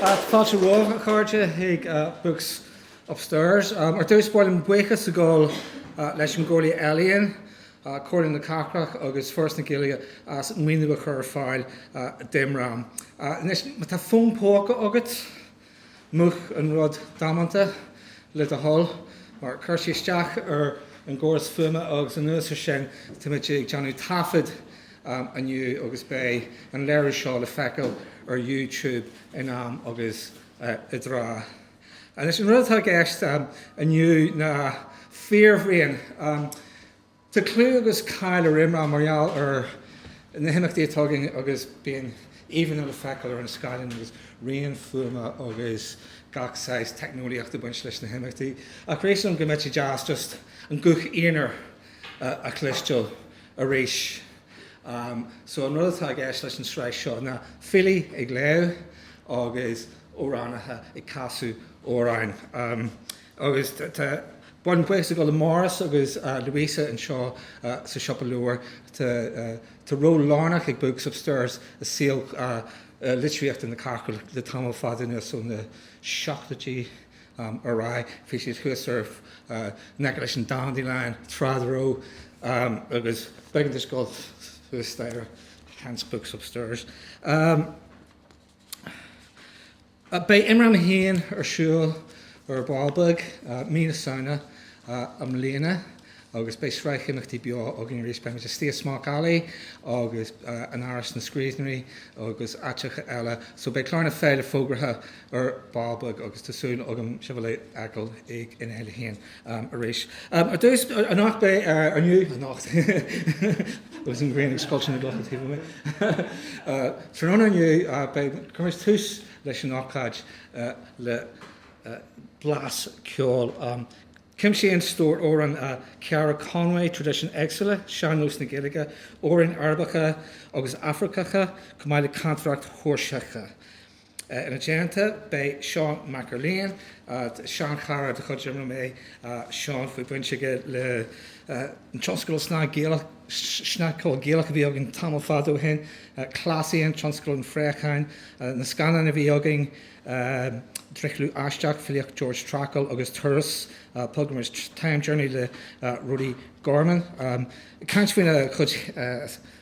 Fáilte romhaibh, a chairde, chuig Books Upstairs. Ar dtús, ba mhaith liom buíochas a ghabháil leis an gComhairle Ealaíon, Comhairle na Cathrach agus Foras na Gaeilge as an maoiniú a chur ar fáil d'IMRAM. Anois, má tá fón póca agat, Múch an rud damanta, le do thoil, mar cuireann sé isteach ar an gcóras fuaime agus anuas ar sin táimid ag déanamh taifead inniu agus beidh an léiriú seo le feiceáil ar YouTube in am agus i dtráth. Anois an rud atá i gceist inniu ná Fíorbhraon. Tá clú agus cáil ar Imram mar gheall ar na himeachtaí atá againn agus bíonn íomhánna le feiceáil ar an scáileán agus raon fuaime agus gach saghas teicneolaíocht ag baint leis na himeachtaí ach shíleas go mbeadh sé deas just an guth aonair a chloisteail arís so an rud atá i gceist leis an sraith seo ná filí ag léamh agus amhránaithe ag casadh amhráin. Agus tá buíochas ag dul le Maurice agus Louisa anseo sa siopa leabhar. Tá ról lárnach ag Books Upstairs i saol litríochta na cathrach le tamall fada anuas, ó na seachtóidí ar aghaidh. Bhí siad thuas ar in aice leis an Dandelion tráth dá raibh agus b'éigean duit dul suas staighre, hence Books Upstairs. Beidh Imram féin ar siúl ar ball beag mí na Samhna i mbliana agus beidh sraith imeachtaí beo againn arís. Beimid istigh i Smock Alley agus in Áras na Scríbhneoirí agus áiteacha eile so beidh clár na féile fógraithe ar ball beag agus tá súil agam sibh a fheiceáil ag an fhéile féin. Ann arís. Ar dtús, anocht, bhuel inniu, anocht, agus an ghrian ag scoilteadh na gclocha taobh amuigh, tráthnóna inniu, beidh, cuirfimid tús leis an ócáid le blas ceoil. Cuimsíonn stór amhrán Ceara Conway traidisiúin éagsúla sean-nós na Gaeilge, amhráin Arabacha agus Afracacha, chomh maith le cantaireacht Sheoirseach. Ina dteannta beidh Seán Mac Erlaine, seanchara de chuid Imram é Seán bhí baint aige le tionscal snagcheoil Gaelach a bhí againn tamall fada ó shin, Cleasaíonn, tionscal an phréacháin, na scannáin a bhí againn, Drithliú Aisteach, filíocht Georg Trakl, agus Turas, pilgrimage, time journey, le Rody Gorman. Caint faoina chuid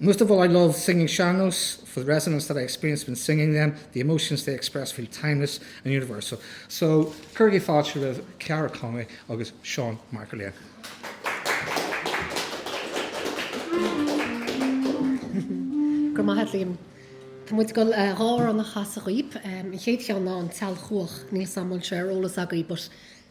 Most of all I love singing sean-nós, for the resonance that I experience when singing them, the emotions they express feel timeless and universal. So, cuirigí fáilte roimh Ceara Conway agus Seán Mac Erlaine. Go raibh maith agat Liam. Tá muid ag dul dhá amhrán a chasadh dhaoib. An chéad cheann ná An tSailchuach, níl a fhios agam an bhfuil sé ar eolas agaí but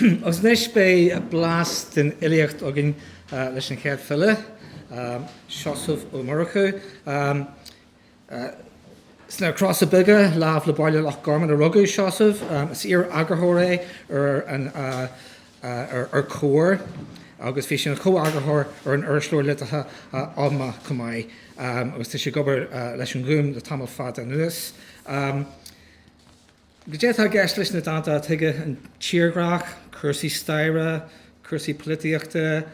Agus anois beidh blas den fhilíocht againn leis an chéad file, Seosamh Ó Murchú. Sna Crosa Beaga, lámh le Baile Loch Garman, a rugadh Seosamh. Is iar-eagarthóir é ar Comhar agus bhí sé ina chomheagarthóir ar an irisleabhar liteartha Oghma chomh maith agus tá sé ag obair leis an nGúm le tamall fada anuas. Cad é atá i gceist leis na dánta atá aige, an tírdhreach, cúrsaí staire, cúrsaí polaitíochta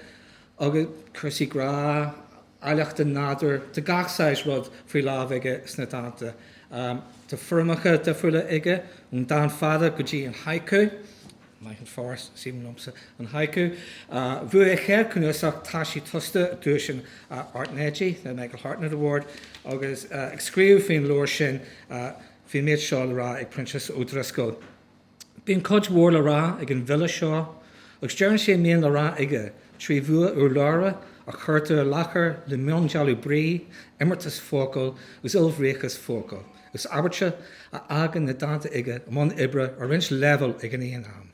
agus cúrsaí grá, áilleacht an nádúir, tá gach saghas rud faoi láimh aige sna dánta. Tá foirmeacha difriúla aige, ón dán fada go dtí an haiku, maith an fear, is aoibhinn liomsa an haiku. Bhuaigh a chéad cnuasach Taisí Tosta duais an Airtnéidigh, the Michael Hartnett Award, agus ag scríobh faoin leabhar sin, Bhí an méid seo le rá ag Proinsias Ó Drisceoil, Bíonn cuid mhór le rá ag an bhfile seo agus deireann sé a mbíonn le rá aige trí bhua urlabhra a chuirtear i láthair le miondealú brí, imeartas focal agus ilbhríochas focal agus abairte a fhágann na dánta aige i mbun oibre ar roinnt leibhéal ag an aon am.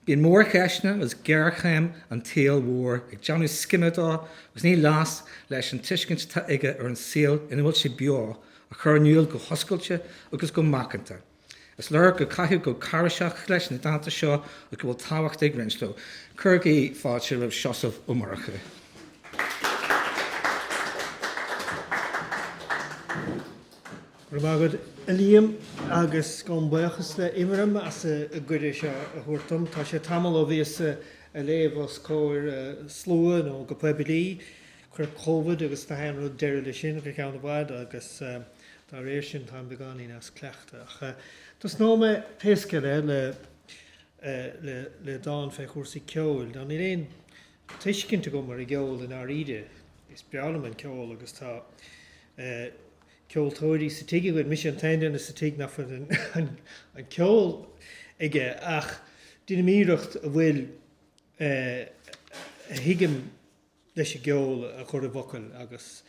Bíonn mórcheisteanna agus géarchéim an tsaoil mhóir ag déanamh scime dó agus ní leasc leis an tuiscint atá aige ar an saol ina bhfuil sé beo a chur in iúl go hoscailte agus go macánta. Is léir gur caitheadh go cáiréiseach leis na dánta seo agus go bhfuil tábhacht ag roinnt leo. Cuirigí fáilte roimh Seosamh Ó Murchú. Go raibh maith agat, a Liam, agus gabhaim buíochas le Imram as an gcuireadh seo a thabhairt dom. Tá sé tamall ó bhíos ag léamh os comhair slua nó go poiblí. Chuir Covid agus gach aon rud deireadh le sin go ceann i bhfad agus dá réir sin táim beagáinín as cleachtadh. Ach tosnóidh mé pé scéal é le le dán fé chúrsaí ceoil. Ná níl aon tuiscint agam ar an gceol i ndáiríre. Is breá liom an ceol agus tá eh. ceoltóirí sa tigh againn, mise an t-aon duine sa tigh nach bhfuil an ceol aige, ach deinim iarracht a bhfuil a thuigim leis an gceol a chur i bhfocail, agus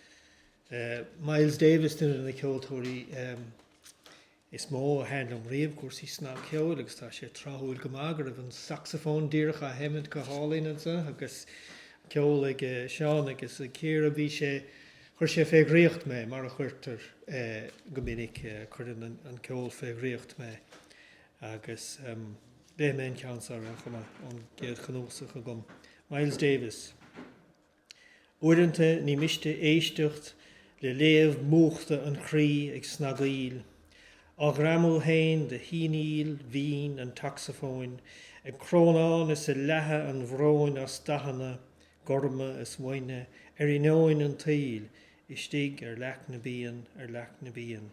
Miles Davis duine de na ceoltóirí Is mó a thaithin liom riamh cúrsaí snagcheoil agus tá sé tráthúil go maith go raibh an sacsafón díreach á sheimint go hálainn anseo agus ceol ag Seán agus ag Ciara. Bhí sé, chuir sé fé dhraíocht mé, mar a chuirtear go minic, cuireann an ceol fé dhraíocht mé agus léifidh mé an ceann seo ar chuma ar bith ón gcéad chnuasach agam, Miles Davis. Uaireanta ní miste éisteacht le glaomh múchta an chroí ag snagaíl, á ghreamú féin de shíonaíl mhín an tsacsafóin, ag crónán is ag leathadh an bhróin as dathanna gorma is uaine ar inneoin an tsaoil, istigh ar leac na bpian, ar leac na bpian.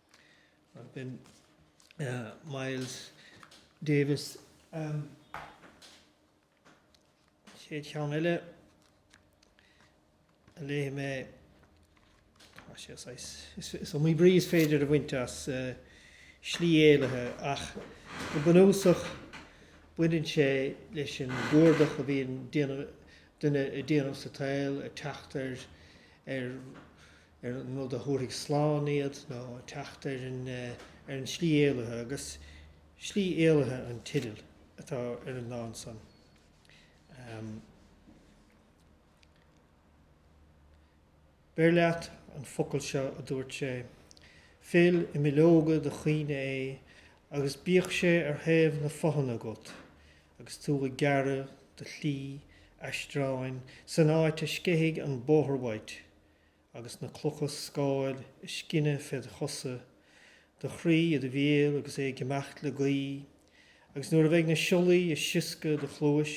B'in Miles Davis. Chéad cheann eile a léifidh mé, tá sé saghas, is iomaí brí is féidir a bhaint as slí éalaithe ach go bunúsach baineann sé leis an gcuardach a bhíonn ag duine á dhéanamh sa tsaol, ag teacht ar ar an rud a thabharfaidh slán iad nó teacht ar an slí éalaithe, agus slí éalaithe an teideal atá ar an dán san. Beir leat an focal seo a dúirt sé, fill i mbileoga do chuimhne é agus bíodh sé ar thaobh na fothana agat agus tú ag gearradh do shlí aistreáin san áit a sceithfidh an bóthar uait Agus na clocha scáil ag scinneadh fé do chosa, do chroí i do bhéal agus é ag imeacht le gaoith, agus nuair a bheidh na siollaí ag sioscadh id chluais,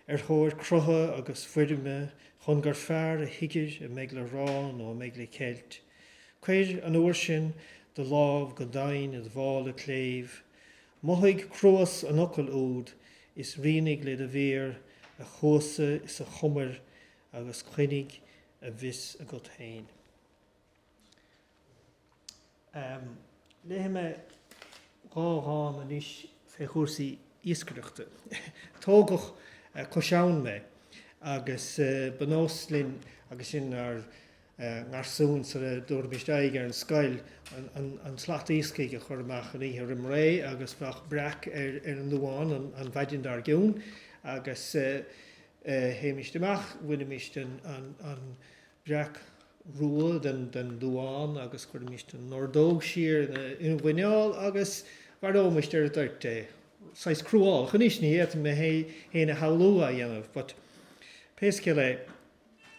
ar thóir crutha agus foirme chun gur fearr a thuigir a mbeidh le rá nó a mbeidh le ceilt, cuir, an uair sin, do lámh go doimhin id mhála cléibh, mothaigh cruas an fhocail úd, is rianaigh le do mhéar a chuasa is a chumair agus coinnigh a bhfios agat féin. Léifidh mé dhá dhán anois fé chúrsaí iascaireachta. Tógadh cois abhann mé agus ba nós linn agus sinn inár ngarsúin sar a dtabharfaimis aghaidh ar an scoil, an tslat iascaigh a chur amach an oíche roim ré agus bheadh breac ar an nduán an mhaidin dár gcionn agus théimíst amach, bhainimíst an breac rua den duán agus chuirimíst an ordóg siar ina mhuineál agus mharóimíst ar an dtoirt é. Saghas cruálach anois, ní fhéadfainn mé féin a shamhlú á dhéanamh, but pé scéal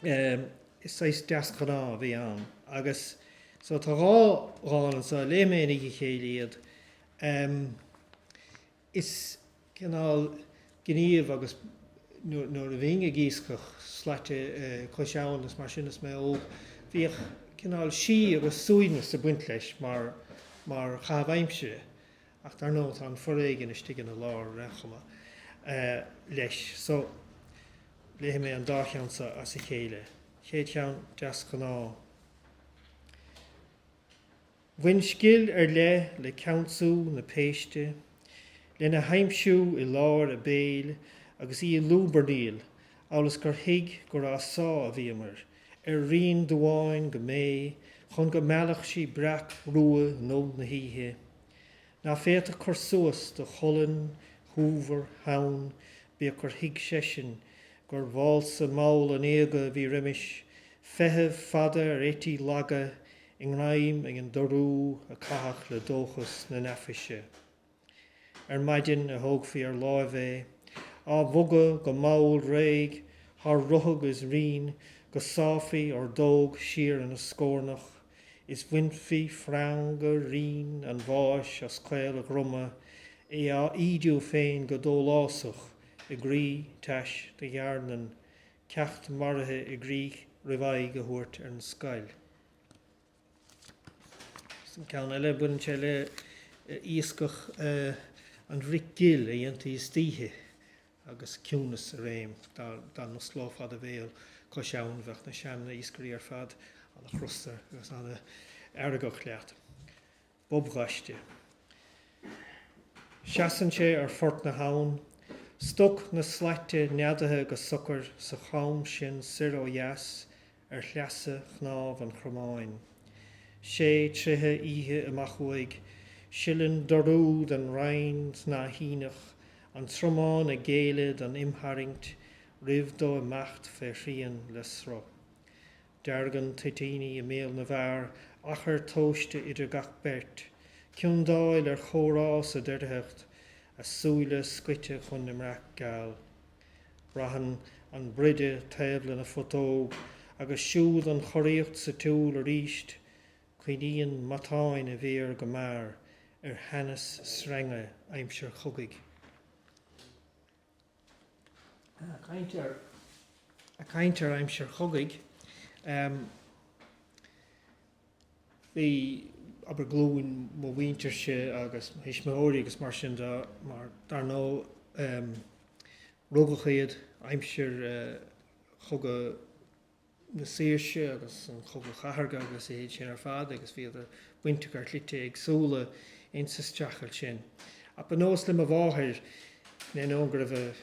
é, is saghas deasghnáth a bhí ann. Agus so tá dhá dhán anseo, léifidh mé i ndiaidh a chéile iad. Is cineál gníomh agus nuair a bhínn ag iascach slaite cois abhann is mar sin is mé óg, bhíodh cineál síth agus suaimhneas ag baint leis mar mar chaitheamh aimsire. Ach dar ndóigh tá an foréigean istigh ina lár ar aon chuma leis. So, léifidh mé an dá cheann seo as a chéile. Chéad cheann, Deasghnáth. Bhain scil ar leith le ceansú na péiste, lena haimsiú i lár a béil agus í ag lúbarnaíl amhail is gur thuig gur á sá a bhíomar, ar rinn duáin go méith, chun go meallfadh sí breac rua nó na hoíche. Ná féadfadh cur suas do cholainn shúmhar theann bíodh gur thuig seisean gur válsa mall an éaga a bhí roimis, feitheamh fada ar eití laga i ngreim ag an dorú a caitheadh le dóchas na n-aiféise. Ar maidin a thógfaí ar láimh é, á bhogadh go mall réidh thar ruthag is rinn go sáfaí ordóg siar ina scórnach is bhainfí freanga righin an bháis as caol a dhroma, é á ídiú féin go dólásach i gcroí tais do dhearnan ceacht maraithe i gcrích roimh aghaidh a thabhairt ar an scoil. So an ceann eile, baineann sé le iascach an bhric ghil a dhéantaí istoíche agus ciúnas i réim. Dá n-osclófá do bhéal cois abhann, bheadh na sean-iascairí ar fad an-chrosta agus an-fheargach leat. bobghaiste. Seasann sé ar phort na habhann, stoc na slaite neadaithe go socair sa chom sin soir ó dheas ar shleasa chnámh an chromáin. Sé troithe oíche amach uaidh, sileann dorú den rinn shnáithíneach an tromán ag géilleadh don imtharraingt roimh dó imeacht fé shrian le sruth. Deargann toitíní i mbéal na bhfear achar tomhaiste idir gach beirt, ciondáil ar chomhrá sa doircheacht, a súile scoite chun na mbreac geal. Braitheann an broideadh taobh lena phutóg, agus siúd an choraíocht sa tsiúl arís. Coinníonn matáin a mhéar go mear ar theannas sreinge aimsir chogaidh. Ag caint ar aimsir chogaidh, bhí, abair, glúin mo mhuintirse agus mo thuismitheoirí agus mar sin de, mar dar ndóigh rugadh iad aimsir chogadh na saoirse agus an chogadh chathartha agus a leithéid sin ar fad agus bhíodar bainteach ar shlite éagsúla insa streachailt sin. Ach ba nós le mo mháthair, in ainneoin go raibh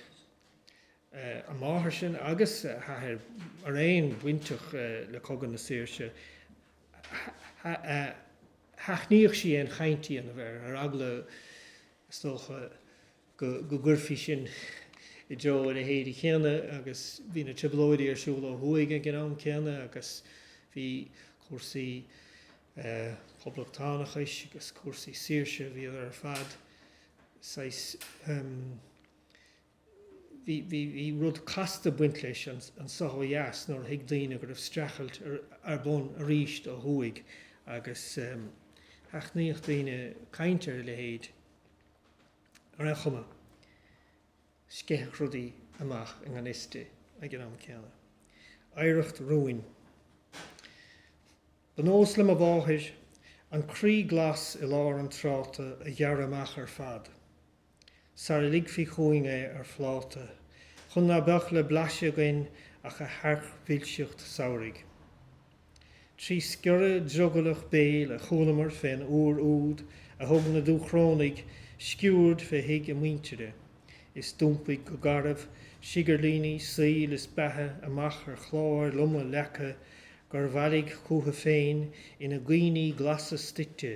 a máthair sin agus a hathair araon bainteach le cogadh na saoirse, sheachnaíodh sí aon chaint a dhéanamh air, ar eagla, is dócha, go gcuirfí sinn i dtreo a leithéidí céanna agus bhí na trioblóidí ar siúl ó thuaidh ag an am céanna agus bhí cúrsaí poblachtánachais agus cúrsaí saoirse, bhíodar ar fad saghas, bhí rud casta ag baint leis anso ó dheas nuair a thuig daoine go raibh streachailt ar bun arís ó thuaidh agus sheachnaíodh daoine caint ar a leithéid. ar aon chuma, sceitheadh rudaí amach i ngan fhios di ag an am céanna. Oidhreacht rúin. Ba nós le mo mháthair an croí glas i lár an tráta a ghearradh amach ar fad sara ligfí chugainn é ar phláta chun ná beadh le blaiseadh againn ach a thearc-mhilseacht samhraidh. Trí sciorradh drogallach béil a chualamar fén uair úd a thug na Dúchrónaigh sciúird fé thigh a muintire, is d'iompaigh go garbh, siogairlíní saoil is beatha amach ar chláir loma leaca gur bhailigh chúthu féin ina gcuíní glasa stoite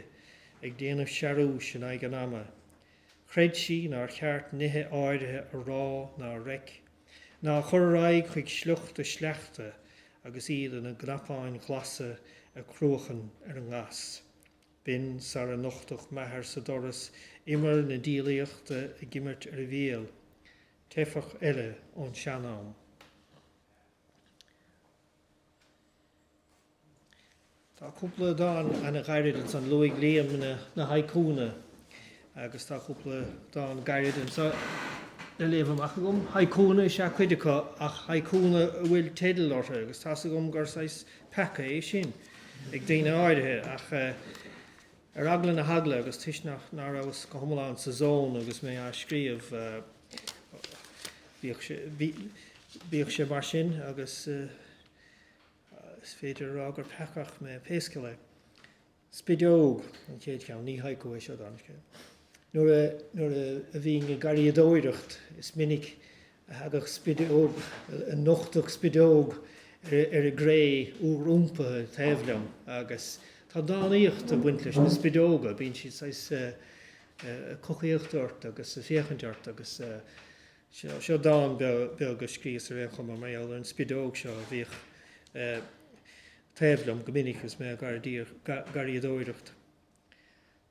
ag déanamh searúis in aghaidh an ama. Chreid sí nár cheart nithe áirithe a rá ná a reic. Ná a chur ar aghaidh chuig sliocht a sleachta agus iad ina gcnapáin ghlasa ag cruachan ar an ngas. B'in sara nochtadh m'athair sa doras imir na diabhlaíochta ag imirt ar a bhéal, teifeach eile ón sean-am. Tá cúpla dán ana ghairid ansan, luaigh Liam na haiku-na, agus tá cúpla dán gairid anso le léamh amach agam. Haiku-na is ea cuid acu, ach haiku-na a bhfuil teideal orthu, agus tá's agam gur saghas peaca é sin ag daoine áirithe, ach. Ar eagla na heagla, agus toisc nach, ná rabhas go hiomlán sa zón agus mé á scríobh, bíodh sé mar sin, agus is féidir a rá gur peacach mé, pé scéal é. Spideog an chéad cheann, ní haiku é seo, dála an scéil. Nuair a bhínn ag garraíodóireacht, is minic a thagadh spideog, a nochtadh spideog ar an gcré úr iompaithe taobh liom agus tá dánaíocht ag baint leis na spideoga, bíonn siad saghas ag cocaíocht ort agus ag féachaint ort agus seo dán beag a scríos ar aon chuma mar gheall ar an spideog seo a bhíodh taobh liom go minic agus mé ag garraíodóireacht.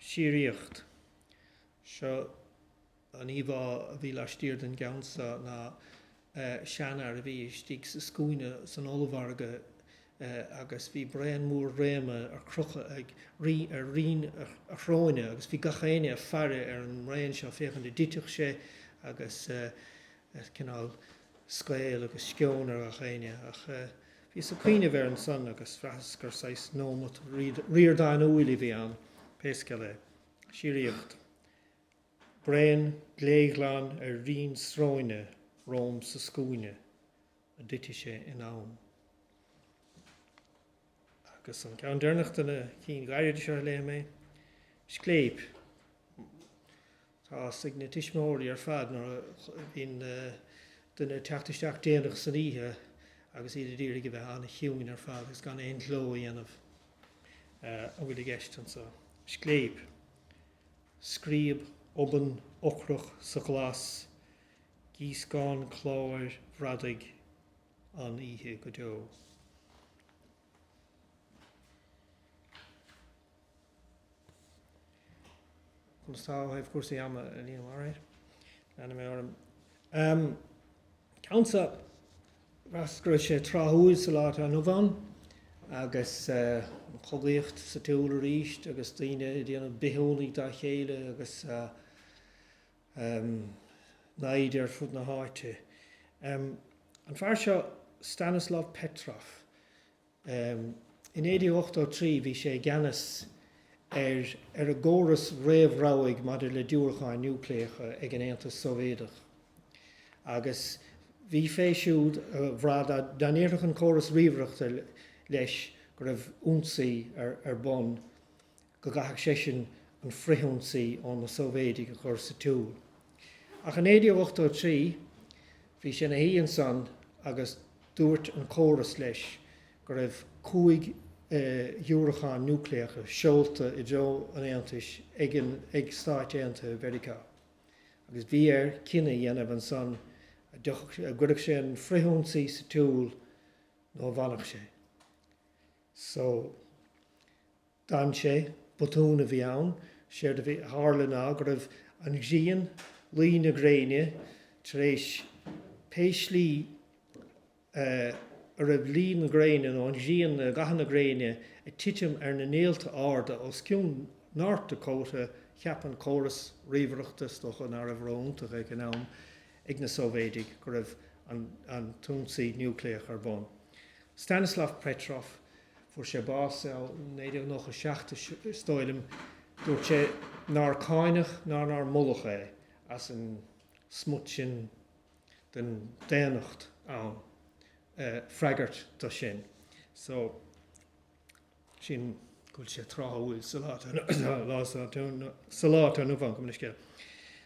síoraíocht. Seo an íomhá a bhí laistiar den gceann seo ná seanfhear a bhí istigh sa scuaine san ollmhargadh agus bhí braon mór réama ar crochadh ag ar rinn a shróine agus bhí gach éinne ag faire ar an mbraon seo féachaint an dtitfeadh sé agus cineál scaoll agus sceoin ar gach éinne ach Bhíos ag cuimhneamh air ansan agus bhraitheas gur saghas nóimeat Ríordánúil a bhí ann, pé scéal é. Síoraíocht. Braon gléghlan ar rinn sróine romham sa scuaine an dtitfidh sé in am. Agus an ceann deireanach de na cinn ghairide seo a léifidh mé. Scléip. Tá fhios ag na tuismitheoirí ar fad nuair a bhíonn duine ag teacht isteach déanach san oíche agus iad a d'iarraidh a bheith an-chiúin ar fad agus gan aon ghleo a dhéanamh. A bhfuil i gceist anseo? Scléip. Scríob obann ocrach sa ghlas. Gíoscán cláir bhradaigh. An-oíche go deo. Conas atá ó thaobh chúrsaí ama, Liam Mhairéad? Leanfaidh mé orm. Ceann so bhraitheas go raibh sé tráthúil sa lá atá inniu ann agus an chogaíocht sa tsiúl arís agus daoine ag déanamh bithiúnaigh dá chéile agus naimhde ar fud na háite. An fear seo Stanislav Petrov. I 1983 bhí sé i gceannas ar ar an gcóras réamhrabhaidh maidir le diúracáin núicléacha ag an Aontas Sóivéadach. Agus bhí fé siúd a bhrath dá ndéarfadh an córas ríomhaireachta leis go raibh ionsaí ar bun go gcaithfeadh seisean an frithionsaí ó na Sóivéidigh a chur sa tsiúl. Ach i 1983, bhí sé ina shuí ansan agus dúirt an córas leis go raibh cúig dhiúracán núicléacha seolta i dtreo an Aontais ag Stáit Aontaithe Mheiriceá, agus bhí air cinneadh a dhéanamh ansan a gcuirfeadh sé an frithionsaí sa tsiúl nó a bhfanfadh sé. So. D'fhan sé, botún a bhí ann, séard a bhí, a tharla ná go raibh an ghrian, luí na gréine, tar éis pé slí a raibh luí na gréine nó an ghrian, gathanna na gréine, ag titim ar na néalta arda os cionn North Dakota, cheap an córas ríomhaireachta, is dócha, ná raibh ró-iontach ag an am ag na Sóivéidigh go raibh an t-ionsaí núicléach ar bun. Stanislav Petrov. Fuair sé bás i 1997 is dóigh liom. Dúirt sé nár cáineadh ná nár moladh é as an smut sin den daonnacht ann freagairt do sin. So, sin, go bhfuil sé tráthúil sa lá atá inniu ann, go mb'fhiú an scéal.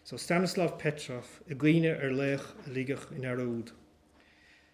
So, Stanislav Petrov ag cuimhneamh ar laoch a ligeadh i ndearúd.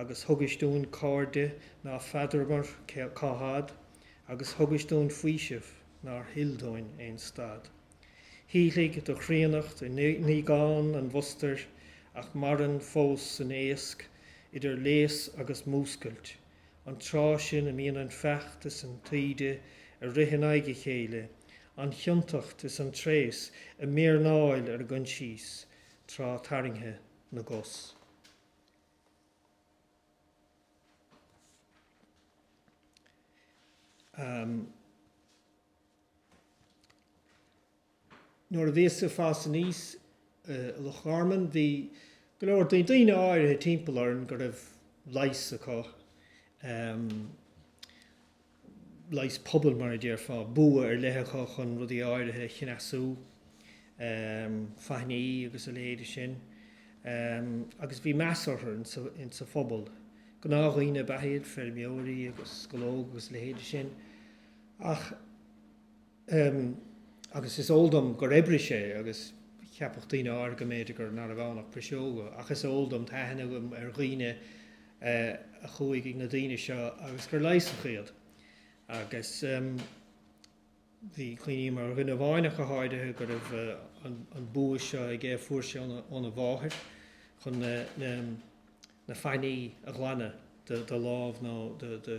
agus thugais dúinn cairde ná feadramar cá had, agus thugais dúinn faoiseamh nár thuill dúinn aon stad. Shíothlaigh do chríonnacht i ndíogán an mhustair, ach maireann fós san éasc idir léas agus múscailt, an tráth sin a mbíonn an feacht is an taoide ar rith in aghaidh a chéile, an chiontacht is an tréas ag méirnéail ár gcoinsias, tráth tarraingthe na gcos. Nuair a bhíos-sa ag fás aníos i Loch Garman bhí go leor daoine áirithe timpeall orainn go raibh leigheas acu. leigheas pobail, mar a déarfá, bua ar leith acu chun rudaí áirithe a chneasú, faithní agus a leithéide sin, agus bhí meas orthu insa phobal. Gnáthdhaoine ab ea iad, feirmeoirí agus scológa agus a leithéide sin. Ach. Ehm, agus is eol dom gur oibrigh sé, agus cheapfadh daoine áirithe go mb'fhéidir gur, nárbh ann ach piseoga, ach is eol dom, tá aithne agam ar dhaoine eh a chuaigh ag na daoine seo agus gur leigheasadh iad. Agus ehm, bhí, cuimhním ar dhuine amháin ach go háirithe go raibh eh an, an bua seo aige a fuair sé óna, óna mháthair chun na, na, na faithní a ghlanadh de, de lámh nó de, de,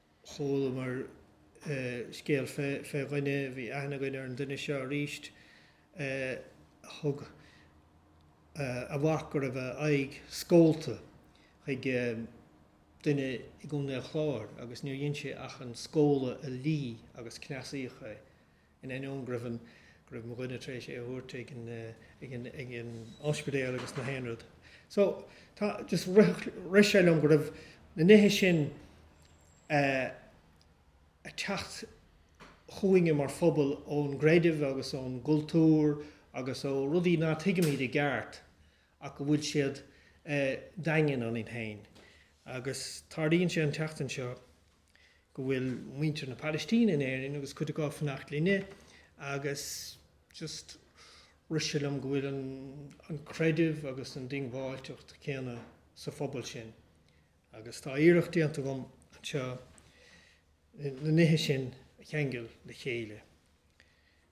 chualamar scéal fé dhuine, bhí aithne againn ar an duine seo arís, a thug a mhac go raibh a aghaidh scólta chuig duine i gContae an Chláir agus níor dhein sé ach an scóladh a lí agus cneasaíodh é. In ainneoin go raibh an, go raibh mo dhuine tar éis é a thabhairt ag an, ag an, ag an oispidéal agus na haon rud. So, tá, just rith, rith sé liom go raibh na nithe sin eh a' teacht chugainne mar phobal ón gcreideamh agus ón gcultúr agus ó rudaí ná tuigimid i gceart ach go bhfuil siad eh daingean ionainn féin. Agus tarlaíonn sé an tseachtain seo, go bhfuil muintir na Pailistíne in Éirinn agus cuid acu ag fanacht linne agus just rith sé liom go bhfuil an an creideamh agus an diongbháilteacht céanna sa phobal sin agus tá iarracht déanta agam anseo na nithe sin a cheangal le chéile.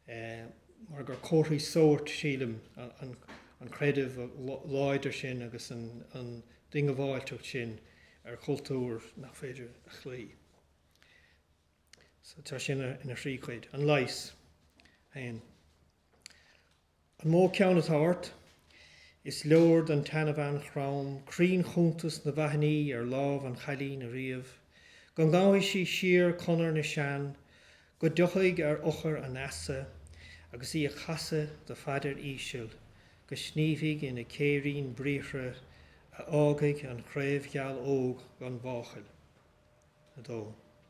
mar gur comharthaí sóirt, sílim, an creideamh láidir sin agus an diongbháilteacht sin ar chultúr nach féidir a chloí. So tá sé sin ina thrí chuid. An leigheas. An mó ceann atá ort, is leor don tseanbhean chrom cruinnchuntas na bhfaithní ar lámh an chailín a ríomh, go ngabhfaidh sí siar conair na sean, go dtiocfaidh ar eochair an fheasa, agus í a chasadh do phaidir íseal, go sníomhfaidh ina céirín briathra a fhágfaidh an chraobh gheal óg gan mháchail. 2.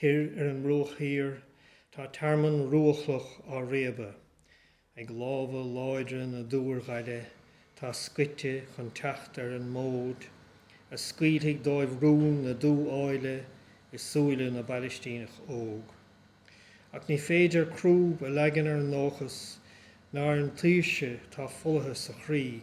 Thoir ar an mBruach Thiar, tá tearmann ruachloch á réabadh ag lámha láidre na dúrghaile atá scite chun teacht ar an mód a scaoilfidh dóibh rún na dú-áille i súile na bPailistíneach óg. Ach ní féidir crúb a leagan ar an ndóchas ná ar an tsaoirse atá folaithe sa chroí.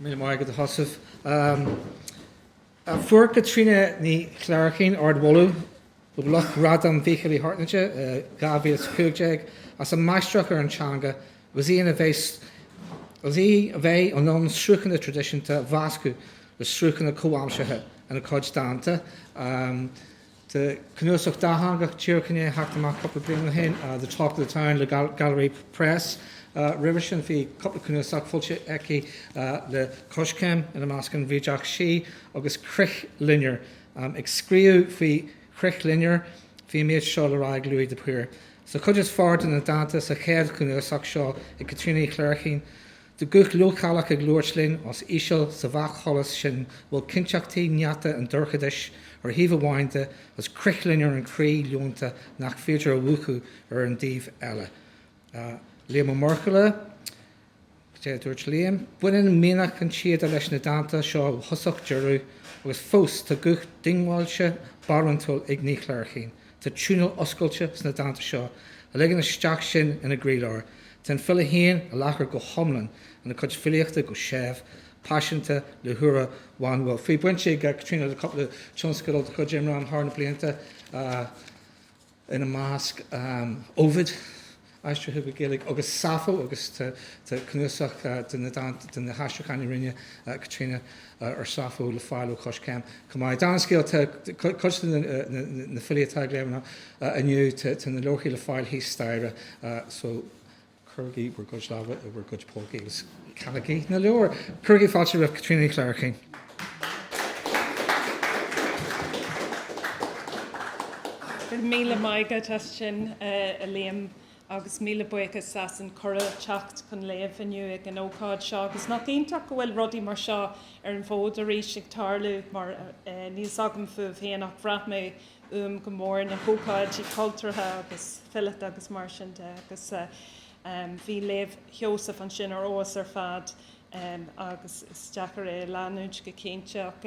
Míle maith agat a Sheosaimh. Fuair Caitríona Ní Chléirchín ardmholadh ó lucht Ghradam Mhíchíl Uí hAirtnéide 2015 as a máistreacht ar an teanga agus í a bheith in ann sruthanna traidisiúnta a mheascadh le sruthanna comhaimseartha ina cuid dánta. Tá cnuasach dátheangach díreach i ndiaidh theacht amach cúpla bliain ó shin, The Talk of the Town le Gallery Press. Roimhe sin bhí cúpla cnuasach foilsithe aici le Coiscéim, ina measc An Bhrídeach Sí agus Crithloinnir. Ag scríobh faoi Crithloinnir bhí an méid seo le rá ag Louis de Paor. Sa chuid is fearr de na dánta sa chéad chnuasach seo ag Caitríona Ní Chléirchín, Tá guth leochaileach ag labhairt linn os íseal sa bhreacsholas sin a bhfuil cinnteachtaí néata an dorchadais ar thaobh amháin de agus crithloinnir an chroí leonta nach féidir a mhúchadh ar an dtaobh eile. Liam Ó Muirthile, dúirt Liam. Baineann mianach an tsíoda leis na dánta seo ó thosach deireadh agus fós tá guth diongbháilte barántúil ag Ní Chléirchín. Tá tiúnáil oscailte sna dánta seo a ligeann isteach sinn ina gcroílár. Tá an file féin i láthair go hiomlán ina cuid filíochta, go séimh, paiseanta, le húire bhanúil. Bhí baint ag Caitríona le cúpla tionscadal de chuid Imram thar na blianta, ina measc, Ovid. aistrithe go Gaeilge, agus Sappho, agus tá cnuasach de na haistriúcháin a rinne Caitríona ar Sappho le fáil ó Coiscéim chomh maith. Dála an scéil, tá cuid de na filí atá ag léamh inniu, tá na leabharthaí le fáil thíos staighre, só cuirigí bhur gcuid lámha i bhur gcuid pócaí agus ceannaígí na leabhair! Cuirigí fáilte roimh Caitríona Ní Chléirchín. Míle maith agat as sin, a Liam, agus míle buíochas as an cuireadh teacht chun léamh inniu ag an ócáid seo. Agus nach iontach go bhfuil rudaí mar seo ar an bhfód arís ag tarlú, mar níl fhios agam fúibh féin, ach bhraith mé uaim go mór na hócáidí cultúrtha agus fileata agus mar sin de, agus bhí léamh Sheosaimh ansin ar fheabhas ar fad. agus is deacair é a leanúint go cinnte, ach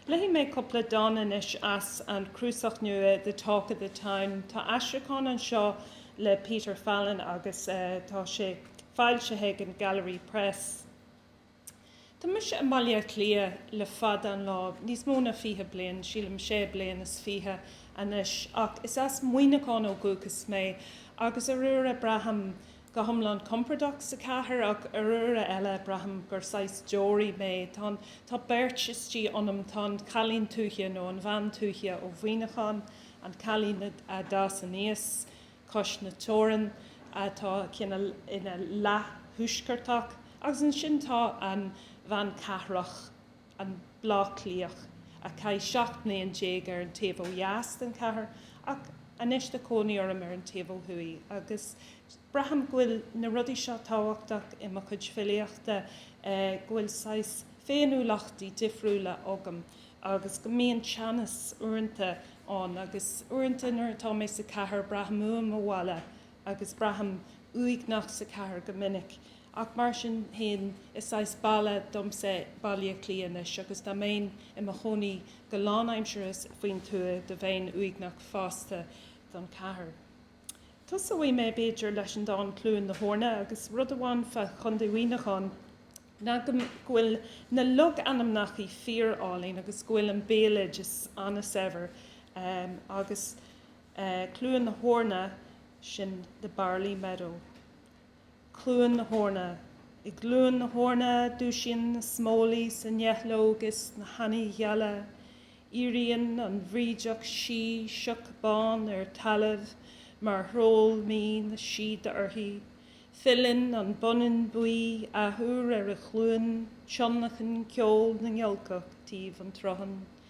léifidh mé cúpla dán anois as an cnuasach nua The Talk of the Town. Tá aistriúchán anseo le Peter Fallon agus tá sé foilsithe ag an Gallery Press. Tá mise i mBaile Átha Cliath le fada an lá, níos mó ná fiche bliain, sílim sé bliain is fiche anois, ach is as Muineachán ó dhúchas mé, agus ar uaire braithim go hiomlán compordach sa chathair ach ar uaire eile braithim gur saghas deoraí mé, tá an, tá beirt istigh ionam, tá an cailín tuaithe nó an bhean tuaithe ó Mhuineachán, an cailín a d'fhás aníos cois na teorann, atá cineál ina leath-thuaisceartach, agus ansin tá an bhean cathrach, an Bleá Cliathach, a chaith 17 mbliain ar an taobh ó dheas den chathair ach anois tá cónaí orm ar an taobh ó thuaidh agus braithim go bhfuil na rudaí seo tábhachtach i mo chuid filíochta, go bhfuil saghas féiniúlachtaí difriúla agam agus go mbíonn teannas uaireanta ann agus uaireanta nuair atá mé sa chathair braithim uaim mo bhaile agus braithim uaigneach sa chathair go minic, ach mar sin féin is saghas baile domsa Baile Átha Cliath anois agus dá mbeinn i mo chónaí go lánaimseartha faoin tuath do bheinn uaigneach fosta don chathair. Tosóidh mé b'fhéidir leis an dán 'Cluain na hEorna' agus rud amháin fá Chontae Mhuineacháin ná go bhfuil na logainmneacha fíor álainn agus go bhfuil an béaloideas an-saibhir agus Cluain na hEorna, sin the barley meadow. Cluain na hEorna. I gCluain na hEorna dúisíonn smólaigh san eidhneog is na háinní geala. Éiríonn an bhrídeach sí, sioc bán ar talamh mar shról mín síoda uirthi. Filleann an bonnán buí athuair ar an chluain, tionlacan ceol na ngiolcach taobh an tsrutháin.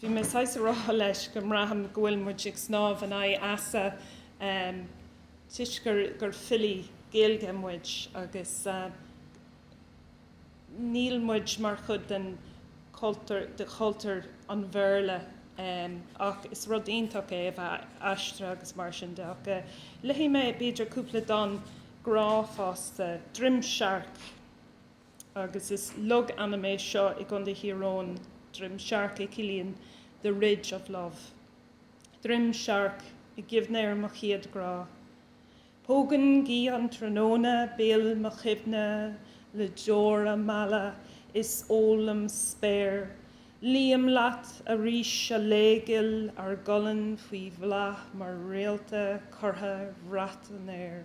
Bhí mé saghas a rá leis go mbraithim go bhfuil muid ag snámh in aghaidh easa toisc gur filí Gaeilge muid agus níl muid mar chuid de chultúr an Bhéarla ach is rud iontach é a bheith aistrithe agus mar sin de ach léifidh mé b'fhéidir cúpla dán grá fosta, Droim Searc. agus is logainm é seo i gContae Thír Eoghain, Droim Searc a chiallaíonn the ridge of love. Droim Searc, i gcuimhne ar mo chéad grá. Pógann gaoth an tráthnóna béal mo chuimhne le deora meala is ólaim spéir. Luím leat arís, a laoigh ghil, ár gcolainn faoi bhláth mar réalta curtha ar bhrat an aeir.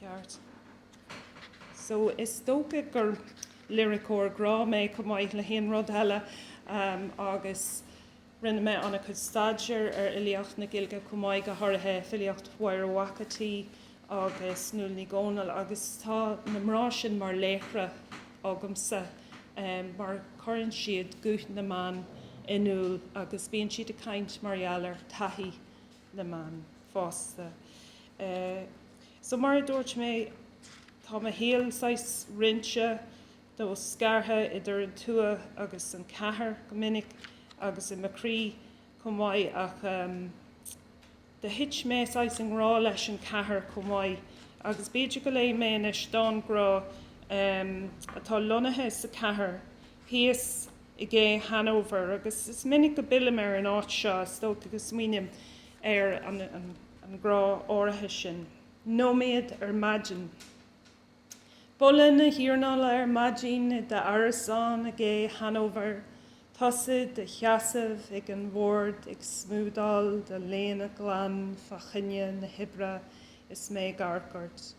Ceart. So, is dócha gur liriceoir grá mé, chomh maith le haon rud eile, agus rinne mé an-chuid staidéir ar fhilíocht na Gaeilge chomh maith, go háirithe filíocht Mháire Mhac an tSaoi agus Nuala Ní Dhomhnaill, agus tá na mná sin mar laochra agamsa, mar cuireann siad guth na mban in iúl, agus bíonn siad ag caint mar gheall ar taithí. na mban fosta. So mar a dúirt mé, tá mo shaol saghas roinnte, nó scartha idir an tuath agus an chathair go minic agus i mo chroí chomh maith ach ehm, do thit mé saghas i ngrá leis an chathair chomh maith agus b'fhéidir go léifidh mé anois dán grá ehm, atá lonnaithe sa chathair. thíos i gCé Hanover, agus is minic go bpillim ar an áit seo, is dócha, go smaoiním ar an grá áirithe sin. Nóiméad ar maidin. Boladh na hiarnála ar maidin i d'árasán i gCé Hanover, tusa i do sheasamh ag an bhord ag smúdáil do léine glan fa choinne na hoibre is mé ag amharc ort.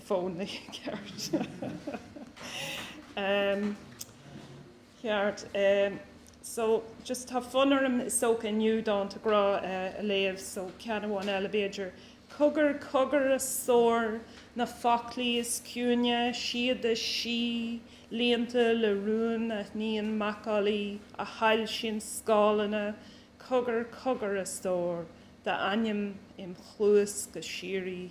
fónai, ceart. Em, ceart. Em, so, just tá fonn orm, is dócha, inniu Dánta Grá a, a léamh, so ceann amháin eile, b'fhéidir. Cogar, cogar a stór, na foclaí is ciúine, siad is sia, líonta le rún, a shníonn macallaí a shoilsíonn scáileanna, cogar, cogar a stór, d'ainm im' chluas go síoraí.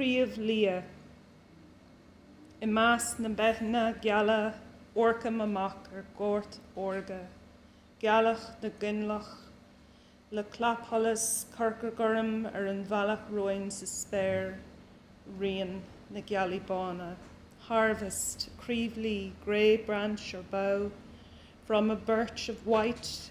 Craobh Liath. I measc na mbeithne geala amharcaim amach ar ghort órga, gealach na gcoinleach, le clapsholas corcra gorm ar an bhealach romhainn sa spéir, rian na gealaí bána, harvest, Craobh Liath, grey branch or bough, from a birch of white,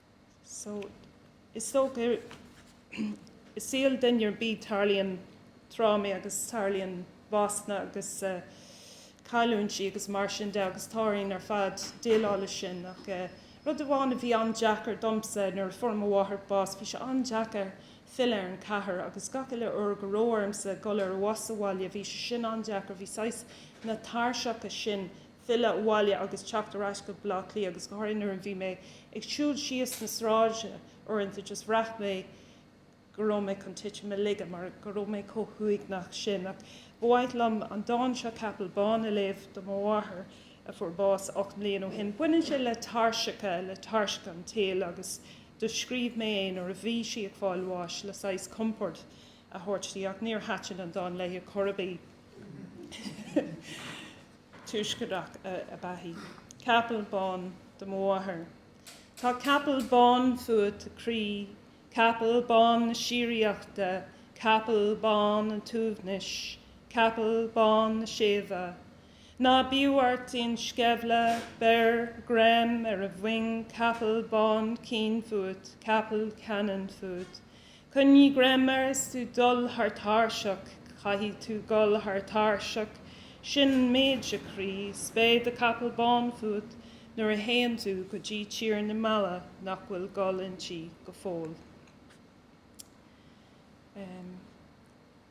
Is dócha, i saol duine ar bith tarlaíonn trámaí agus tarlaíonn básanna agus cailliúintí agus mar sin de agus tá orainn ar fad déileáil leis sin. Ach rud amháin a bhí an-deacair domsa nuair a fuair mo mháthair bás, bhí sé an-deacair filleadh ar an chathair agus gach uile uair go raibh ormsa dul ar bhus abhaile bhí sé sin an-deacair, bhí saghas na tairseacha sin filleadh abhaile agus teacht ar ais go Baile Átha Cliath agus go háirithe nuair a bhí mé ag siúl síos na sráide uaireanta just bhraith mé go raibh mé chun titim i laige mar go raibh mé chomh huaigneach sin ach ba mhaith liom an dán seo Capall Bán a léamh do mo mháthair a fuair bás ocht mbliain ó shin. Baineann sé le tairseacha, le tairseacha an tsaoil agus do scríobh mé é nuair a bhí sí ag fáil bháis le saghas compord a thabhairt di ach níor thaitin an dán léi ar chor ar bith. tuaisceartach ab ea í. Capall bán do mo mháthair. Tá capall bán fút, a chroí, capall bán na síoraíochta, capall bán an tsuaimhnis, capall bán na séimhe. Ná bíodh ort aon sceimhle, beir greim ar a mhoing, capall bán caoin fút, capall ceannann fút. Coinnigh greim air is tú dul thar táirseach, caithfidh tú dul thar táirseach, sin an méid, a chroí, 's beidh do chapall bán fút nuair a théann tú go dtí tír na meala nach bhfuil gol inti go fóill. Ahem.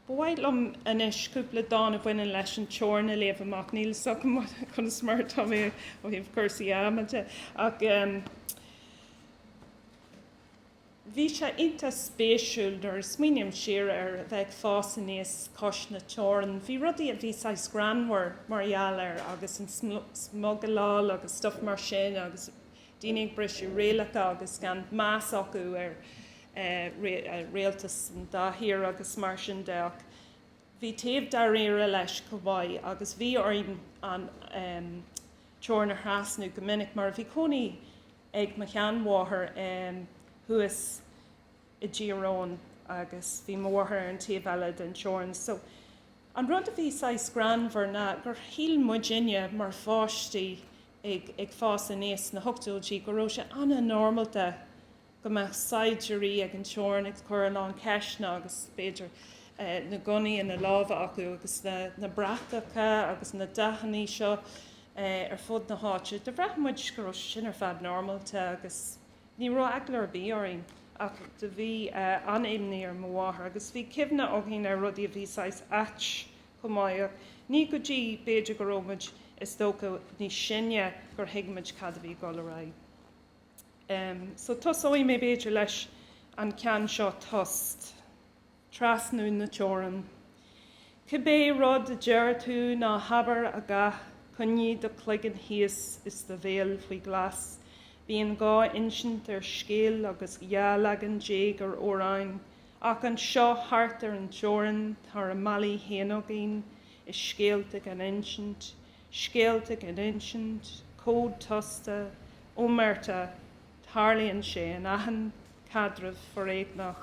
Ba mhaith liom anois cúpla dán a bhaineann leis an teorainn a léamh amach, níl 'fhios agam conas mar atá mé ó thaobh cúrsaí ama de, ach ehm. Bhí sé iontach spéisiúil nuair a smaoiním siar air a bheith ag fás aníos cois na teorann. Bhí rudaí a bhí saghas greannmhar mar gheall air agus an smugileáil agus stuff mar sin agus daoine ag briseadh rialacha agus gan meas acu ar rialtas an dá thír agus mar sin de ach bhí taobh dáiríre leis chomh maith agus bhí orainn an teorann a thrasnú go minic mar bhí cónaí ag mo sheanmháthair thuas i dTír Eoghain agus bhí m'athair ar an taobh eile den teorainn so an rud a bhí saghas greannmhar ná gur shíl muidinne mar pháistí ag fás aníos sna hochtóidí go raibh sé an-normálta go mbeadh saighdiúirí ag an teorainn ag cur a lán ceisteanna agus b'fhéidir na gunnaí ina lámha acu agus na bratacha agus na dathannaí seo ar fud na háite. Do bhraith muid go raibh sin ar fad normálta agus ní raibh eagla ar bith orainn. Ach do bhí an-imní ar m'athair agus bhí cuimhne againn ar rudaí a bhí saghas ait chomh maith. Ach ní go dtí b'fhéidir go raibh muid, is dócha, níos sine gur thuig muid cad a bhí ag dul ar aghaidh. Em. So tosóidh mé b'fhéidir leis an ceann seo, Tost. trasnú na teorann. Cibé rud a deir tú ná habair a dhath, coinnigh do chloigeann thíos is do bhéal faoi ghlas. Bíonn dhá insint ar scéal agus dhá leagan déag ar amhráin, ach anseo thart ar an teorainn tá ár mbealaí féin againn is scéalta gan insint, scéalta gan insint, cód tosta, omerta, tarlaíonn sé in achan caidreamh foréigneach.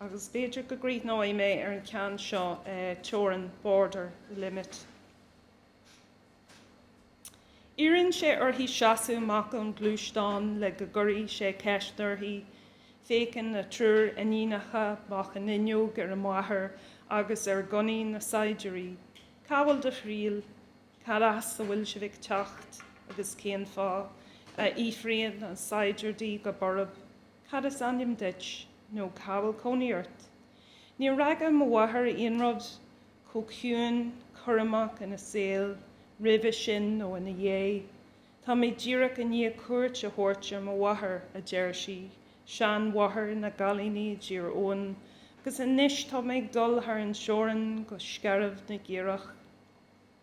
Agus b'fhéidir go gcríochnóidh mé ar an gceann seo, teorainn, border, limit. Iarrann sé uirthi seasamh amach ón gluaisteán le go gcuirfidh sé ceist uirthi. Féachann na triúr iníonacha amach an fhuinneog ar an máthair agus ar ghunnaí na saighdiúirí. Cá bhfuil do thriall? Cad as a bhfuil sibh ag teacht? Agus cén fáth? a fhiafraíonn an saighdiúir di go borb. Cad is ainm duit nó cá bhfuil cónaí ort? Níor fhreagair mo mháthair aon rud chomh ciúin, cúramach ina saol roimhe sin nó ina dhiaidh. Tá mé díreach i ndiaidh cuairt a thabhairt ar mo mháthair, a deir sí, seanmháthair na gcailíní i dTír Eoghain, agus anois tá mé ag dul thar an teorainn go Scairbh na gCaorach.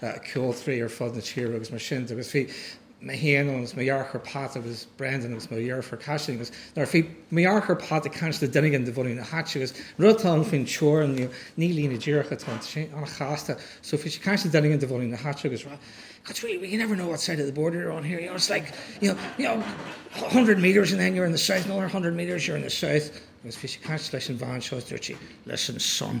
ceoltraí ar fud na tíre agus mar sin de agus bhí mé féin ann agus mo dheartháir Pat agus Brendan agus mo dheirfiúr Caitlín agus nuair bhí mo dheartháir Pat ag caint le duine éigin de bhunadh na háite agus an rud atá ann faoin teorainn inniu ní líne díreach atá ann tá sé an-chasta so bhí sé ag caint le duine éigin de bhunadh na háite agus ag rá it's really you never know what side of the border you're on here you know it's like you know you know a hundred metres and then you're in the south another hundred metres you're in the south agus bhí sé ag caint leis an bhean seo agus dúirt sí listen son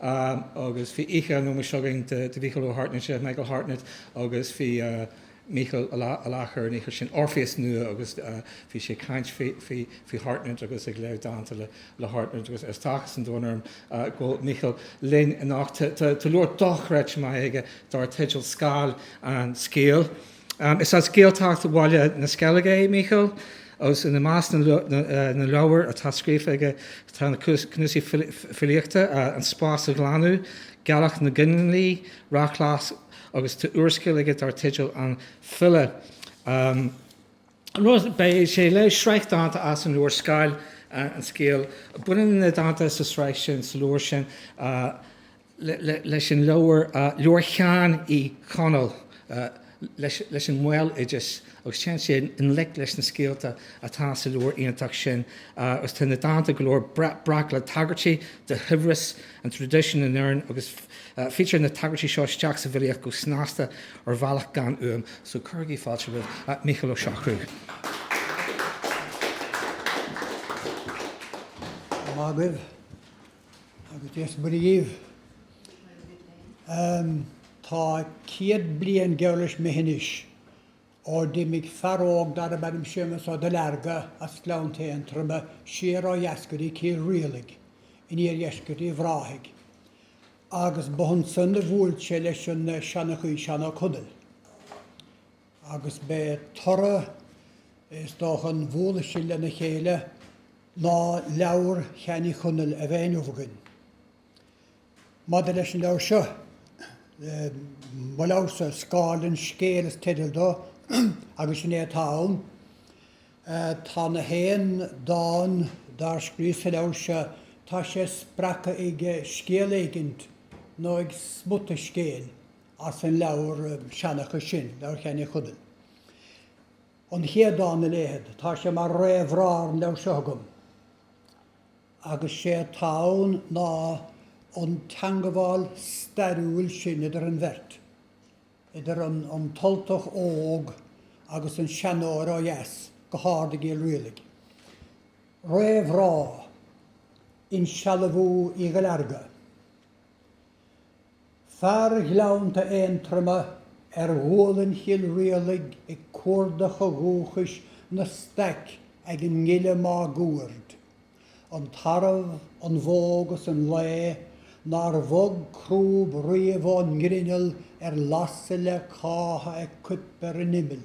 agus bhí oíche an ómóis againn do Mhícheál Ó hAirtnéide, Michael Hartnett, agus bhí Mícheal i láthair an oíche sin, Orpheus nua, agus bhí sé ag caint faoi Hartnett agus ag léamh dánta le Hartnett agus tá áthas an domhain orm go bhfuil Mícheál linn anocht. Tá leabhar dochreidte maith aige dar teideal Scáil an Scéil. Is as Gaeltacht Bhaile na Sceilge é Mícheál agus ina measc na leabhar atá scríofa aige tá na cnuasaí filíochta An Spás a Ghlanadh, Gealach na gCoinlí, Rachlas agus tá úrscéal aige dar teideal An Filleadh. Beidh sé ag léamh sraith dánta as an leabhar Scáil an Scéil. Baineann na dánta sa tsraith sin, sa leabhar sin, leis an leabhar, leabhar Sheáin Uí Chonaill leis an mbéaloideas agus téann sé i ngleic leis na scéalta atá sa leabhar iontach sin agus tá na dánta go leor breac le tagairtí do shaibhreas an traidisiúin in Éirinn agus fítear na tagairtí seo isteach sa bhfilíocht go snasta ar bhealach gan uaim so cuirigí fáilte roimh Mhícheál Ó Siochrú. Maith agaibh. Agus Dia is Muire dhíbh. Em, tá céad bliain geall leis imithe anois ó d'imigh fear óg darb ainm Séamus Ó Duilearga as Gleannta Aontroma siar ó dheas go dtí Cill Rialaigh in iardheisceart Uíbh Ráthaigh agus ba ansan a bhuail sé leis an seanchaí Seán Ó Conaill. agus b'é toradh, is dócha, a mbualadh sin lena chéile ná leabhar Sheáin Uí Chonaill a bheith inniubh againn. Maidir leis an leabhar seo, mo leabharsa, Scáil an Scéil is teideal dó, agus sin é atá ann. Tá na haon dán dár scríos sa leabhar seo, tá sé spreagtha ag scéal éigint, nó ag smuta scéil. as an leabhar seanchais sin, Leabhar Sheáin Uí Chonaill. An chéad dán a léifead. Tá sé mar réamhrá ar an leabhar seo agam. Agus sé atá ann ná an teangabháil stairiúil sin idir an bheirt, idir an an tUltach óg agus an seanóir ó dheas, go hard i gCill Rialaigh. Réamhrá. Insealbhú Uí Dhuilearga. Fear Ghleannta Aontroma ar ghualainn Chill Rialaigh ag cuardach a dhúchais ina staic ag an ngile máguaird. An tarbh, an bhó 'gus an lao nár bhog crúb riamh ón ngrinneall ar lasadh le cáith ag coipeadh ar an imeall.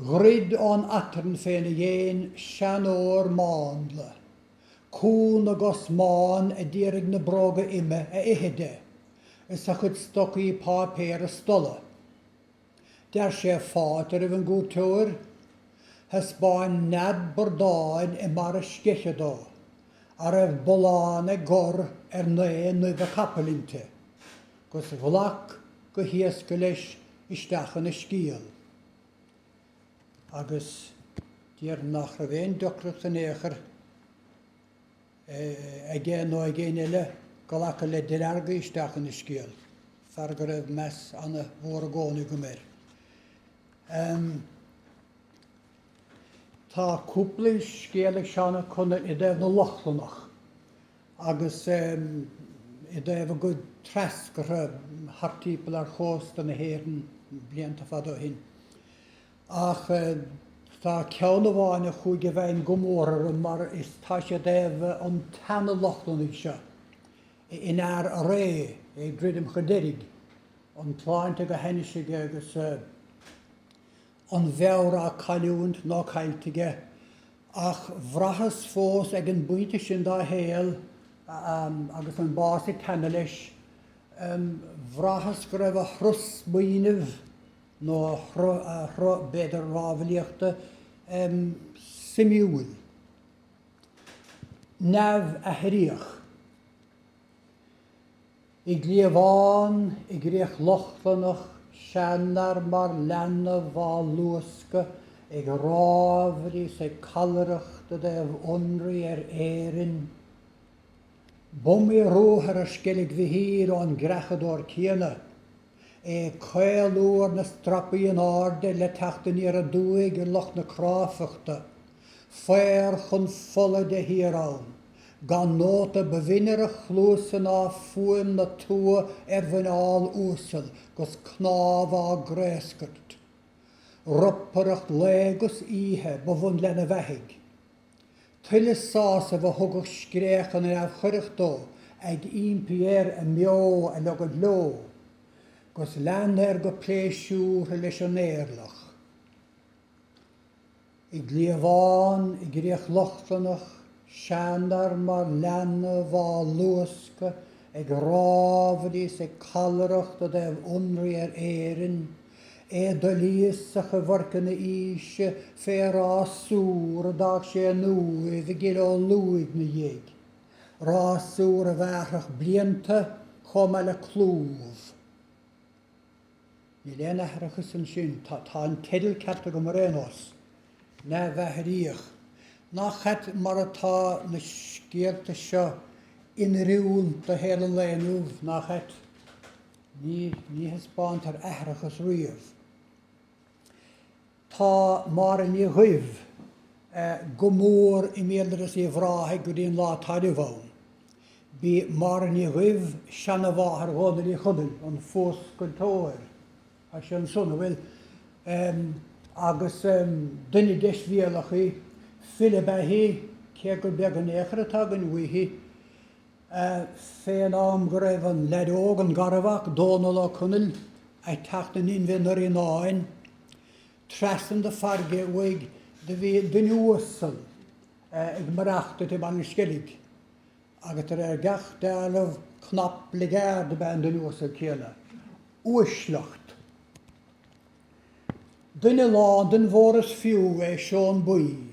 Dhruid ón aiteann féna dhéin seanóir mánla, cú na gcos mbán a d'iarraidh na bróga ime a ithe de, is a chuid stocaí páipéir a stolladh. D'fhear sé fáilte roimh an gcuairteoir. Thaispeáin nead bradáin i mbarra sceiche dó, a raibh bullán ag gor ar naoi n-uibhe capaill inti, gus ghlac go héasca leis isteach ina scéal. agus déarfainn nach raibh aon deacracht in aon chor aige nó ag éinne eile glacadh le Delargy isteach ina scéal, fear go raibh meas ana mhór i gcónaí agam air. Tá cúpla scéal ag Seán Ó Conaill i dtaobh na Lochlannach, agus i dtaobh a gcuid treascartha thart timpeall ar chósta na hÉireann blianta fada ó shin. Ach tá ceann amháin a chuaigh i bhfeidhm go mór orm mar is tá sé i dtaobh an tseana-Lochlannaigh seo in earr a ré, ag druidim chun deiridh, an tsláinte go hainnis aige agus. an mheabhair á cailliúint nó caillte aige, ach bhraitheas fós ag an bpointe sin dá shaol, agus an bás ag teannadh leis, bhraitheas go raibh a shruth smaoinimh, nó a shruth, b'fhéidir, rámhaillíochta, suimiúil, neamhaithríoch. I gcliabhán i gCríoch Lochlannach seanfhear mar leanbh á luascadh ag rámhaillí is ag callaireacht i dtaobh ionraidh ar Éirinn. B'iomaí ruathar ar Sceilg Mhichíl ón gcreachadóir céanna. ag caolú ar na strapaí in airde le teacht aniar aduaidh ar lucht na cráifeachta, faobhar chun fola de shíor ann, gan nóta ba bhinne ar a chluasa ná fuaim na tua ar mhuineál uasal 'gus cnámha á gcraoscairt. Ropaireacht lae 'gus oíche ba bhun lena bheathaidh. Tuilleadh sásaimh a thugadh scréach na neamhchoireach dó ag impí air a mbeo a leogaint leo, gus lean air go pléisiúrtha leis an éirleach. I gcliabhán i gCríoch Lochlannach, seanfhear mar leanbh á luascadh ag rámhaillí is ag callaireacht i dtaobh ionraí ar Éirinn, É doilíosach i bhfoirceann a aoise fé rásúr a d'fhág sé in uaimh i gCill Ó Luaigh 'na dhiaidh, rásúr a bhearrfadh blianta chomh maith le clúmh. Níl aon aithreachas ansin, tá an teideal ceart agam ar aon nós, neamh-aithríoch, nach ait mar atá na scéalta seo in oiriúint do shaol an lae inniu, nach ait? Ní thaispeántar aithreachas riamh. Tá Máire Ní Dhuibh go mór i mbéaloideas Uíbh Ráthaigh go dtí an lá atá inniu ann. B'í Máire Ní Dhuibh seanamháthair Dhónaill Uí Chonaill, an fuascailteoir, tá sé ansan, an bhfuil? agus duine deisbhéalach í. File ab ea í, cé gur beag an eochair atá againn uaithi. Fén am go raibh an leaid óg, an garmhac, Dónal Ó Conaill, ag teacht in inmhe i nDoire Fhíonáin, trasna na fairrge uaidh, do bhí duine uasal ag maireachtaint i mBaile an Sceilg, agus de réir gach dealramh, cnap bligeaird ab ea an duine uasal céanna. Uaisleacht. Duine lán den mhór is fiú é Seón Buí.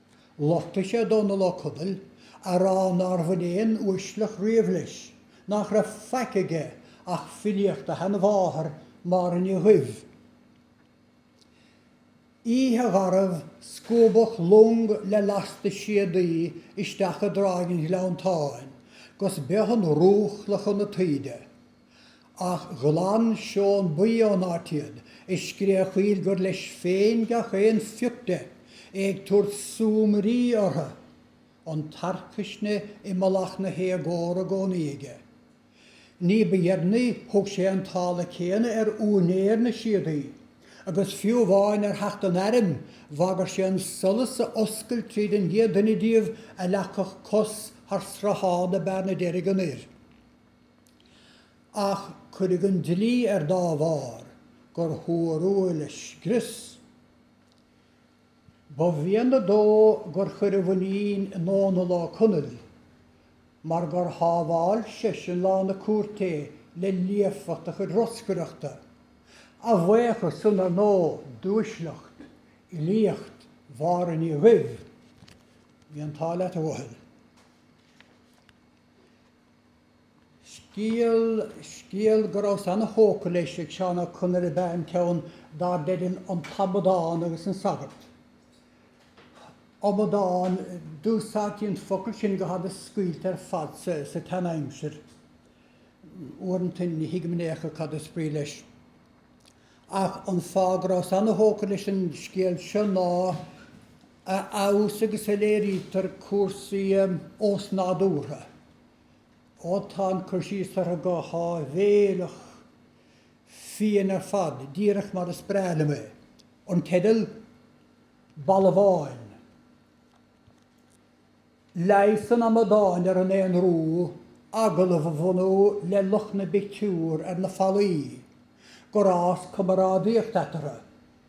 Lochtaigh sé Dónal Ó Conaill, a rá nár bhain aon uaisleacht riamh leis, nach raibh faic aige ach filíocht a sheanmháthar Máire Ní Dhuibh, oíche gharbh, scuabadh long le lasta síodaí isteach i dTráigh an Ghleanntáin, gus b'é an rúchladh chun na taoide. Ach ghlan Seón Buí ón áit iad, ag scréachaíl gur leis féin gach aon phioc de, é ag tabhairt súmairí orthu, an tarcaisne i mullach na héagóra i gcónaí aige. Ní ba dheireanaí thug sé an táille céanna ar úinéir na síodaí, agus fiú amháin ar theacht an airm, bhagair sé an solas a oscailt tríd an gcéad duine díobh a leagfadh cos thar sruthán na Bearna Deirge anoir. Ach cuireadh an dlí air dá bharr gur thuar a léirscrios. Ba mhéanar dó gur chuir a mhuinín i nDónall Ó Conaill mar gur shábháil seisean lá na cúirté le líofacht a chuid roscaireachta, a bhuíochas san, ar ndóigh, d'uaisleacht fhilíocht Mháire Ní Dhuibh. Bhí an t-ádh leat, a Dhónaill. Scéal go rabhas ana-thógtha leis ag Seán Ó Conaill ab ea an ceann dar teideal An tAmadán agus an Sagart. Amadán, d'úsáidtí an focal sin go hana-scaoilte ar fad sa tseanaimsir. Uaireanta ní thuigim in aon chor cad is brí leis. Ach an fáth go rabhas ana-thógtha leis an scéal seo ná a fheabhas agus a léirítear cúrsaí osnádúrtha. Ó tá an cur síos orthu go háibhéileach fiain ar fad, díreach mar is breá liom é. An teideal? Balbháin. Leigheas an Amadáin ar an aonrú, agallamh a bhunú le lucht na bpictiúr ar na fallaí, gur fhás camarádaíocht eatarthu.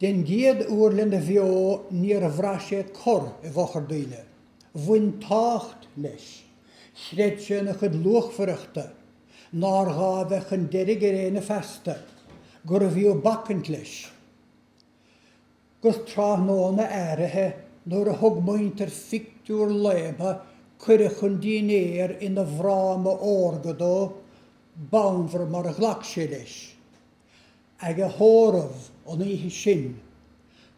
Den gcéad uair lena bheo níor bhraith sé corr i bhfochair daoine. Bhain tábhacht leis. Chreid sé ina chuid luachmhaireachta, nár ghá a bheith chun deiridh ar éinne feasta, gurbh fhiú bacaint leis. Agus tráthnóna áirithe nuair a thug muintir phictiúr Laoide cuireadh chun dinnéir ina bhfráma órga dó, b'fhonnmhar mar a ghlac sé leis. Ag a thórramh an oíche sin,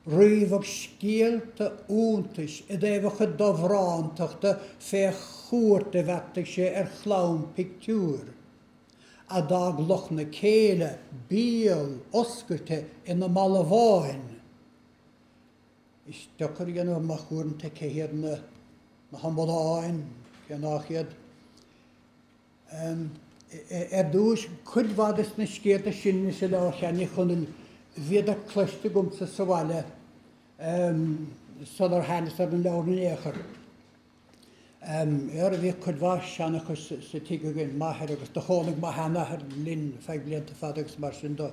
ríomhadh scéalta iontais i dtaobh a chuid dobhrántachta fé chuairt a bheartaigh sé ar chlann pictiúir, a d'fhág lucht na céille béaloscailte ina mbalbháin. Is deacair a dhéanamh amach uaireanta cé hiad na hamadáin, cé nách iad. Am. Ar dtúis, cuid mhaith des na scéalta sin insa Leabhar Sheáin Uí Chonaill bhíodar cloiste agamsa sa bhaile sular thánas ar an leabhar in aon chor. Am. Óra, bhíodh cuid mhaith seanchais sa tigh againn, m'athair agus do chónaigh mo sheanathair linn feadh blianta fada agus mar sin do,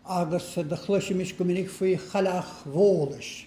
agus do chloisimis go minic faoi Chailleach Bhólais.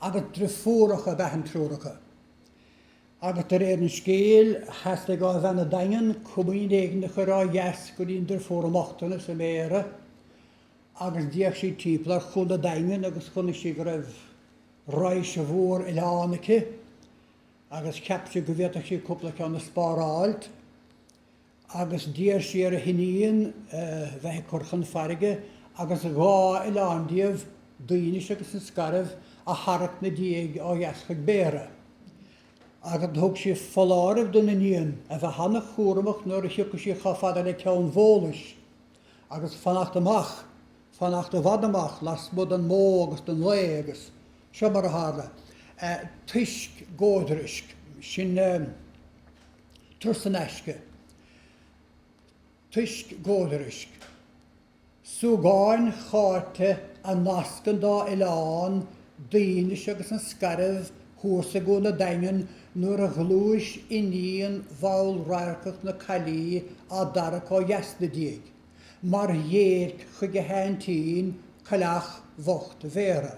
agus driofúracha ab ea an triúr acu, agus de réir an scéil, theastaigh ó bhean a' Daingin comaoin éigin a chur ó dheas go dtí an driofúr i mbochtanas i mBéarra, agus d'fhéach sí timpeall ar Chuan a' Daingin agus chonaic sí go raibh raidhse mhór oileán aici, agus cheap sí go bhféadfadh sí cúpla ceann a spáráilt. agus d'iarr sí ar a hiníon a bheith ag cur chun farraige agus dhá oileán díobh, Duínis agus an Scairbh, a tharrac 'na diaidh ó dheas chuig Béarra. Agus do thug sí foláireamh don iníon a bheith an-chúramach nuair a thiocfadh sí chomh fada le Ceann Bhólais, agus fanacht amach, fanacht i bhfad amach, lasmuigh don mbó agus don lao, agus seo mar a tharla, toisc, góidrisc, sin. Turas in aisce, toisc góidrisc. Súgáin chairte a nasc an dá oileán Duínis agus an Scairbh thuas i gCuan an Daingin nuair a ghluais iníon mhallradharcach na caillí á dtarrac ó dheas na diaidh, mar dhéirc chuig a haintín, Cailleach Bhocht Bhéara.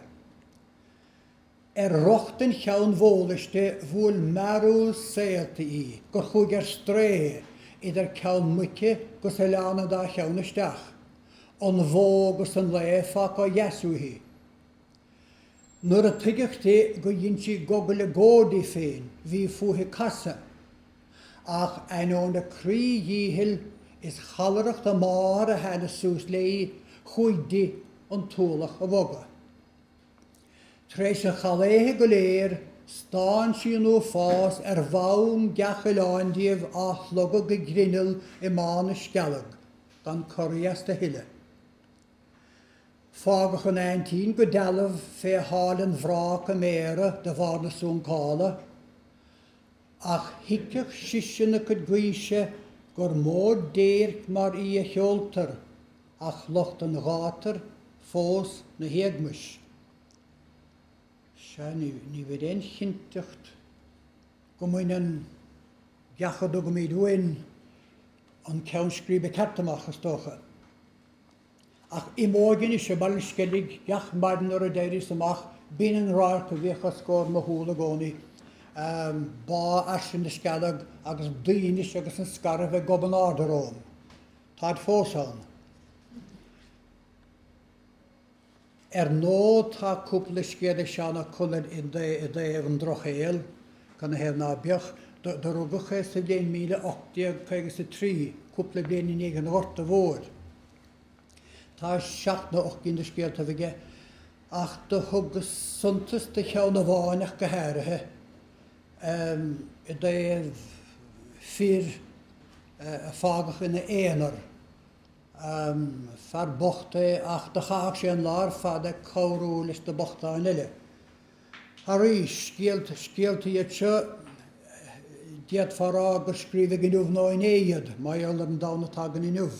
Ar rochtain Cheann Bhólais di bhuail mearbhall saolta í gur chuaigh ar strae idir Ceann Muice gus Oileán an Dá Cheann isteach, an bhó gus an lao fágtha ó dheas uaithi. Nuair a tuigeadh di gur dhein sí gogaille gó di féin bhí fúithi casadh, ach ainneoin a croídhíchill is challaireacht a máthar a theannadh suas léi chuaigh di an t-ualach a bhogadh. Tar éis an challshaotha go léir, stán sí nó fás ar bhonn gach oileáin díobh á shlogadh go grinneall i mBá na Scealg, gan corraí astu a thuilleadh. Fágadh an aintín go dealbh fé sháil an bhráca i mBéarra de bharr na suncála, ach thuigfeadh sise na cuid gaoise gur mó déirc mar í a sheoltar, ach lucht an ghátair fós na héagmais. Sea, ní bheidh aon chinnteacht go mbaineann gach a dtugaimid uainn an ceann scríbe ceart amach, is dócha. Ach im óige anois i mBaile Sceilg gach maidin nuair a d'éiríos amach, b'in an radharc a bhíodh os comhair mo shúl i gcónaí, Bá fhairsing na Scealg agus Duínis agus an Scairbh ag gobadh in airde romham. Táid fós ann. Ar ndóigh tá cúpla scéal ag Seán Ó Conaill i dtaobh an Drochshaoil, cad ina thaobh ná beadh. Do rugadh é sa bhliain míle ocht déag caoga is a trí, cúpla bliain i ndiaidh an Ghorta Mhóir. Tá seacht nó ocht gcinn de scéaltaibh aige, ach do thugas suntas do cheann amháin ach go háirithe. um i dtaobh fir a fágadh ina aonar. um Fear bocht é ach do chaitheadh sé an lá ar fad ag cabhrú leis na bochtáin eile. Arís, scéalta, scéalta iad seo, d'fhéadfá a rá gur scríobhadh inniu nó inné iad, mar gheall ar an domhan atá againn inniu.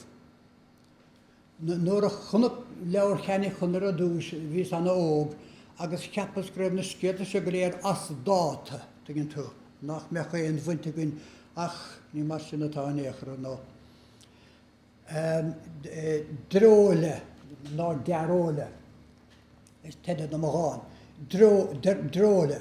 Nuair a chonac leabhar Sheáin Uí Chonaill ar dtús, bhíos ana óg, agus cheapas go raibh na scéalta seo go léir as dáta, tuigeann tú, nach mbeadh aon bhaint againn, ach ní mar sin atá in aon chor, ar ndóigh. Dreoile, nó dearóile is teideal do mo dhán. Dreoile.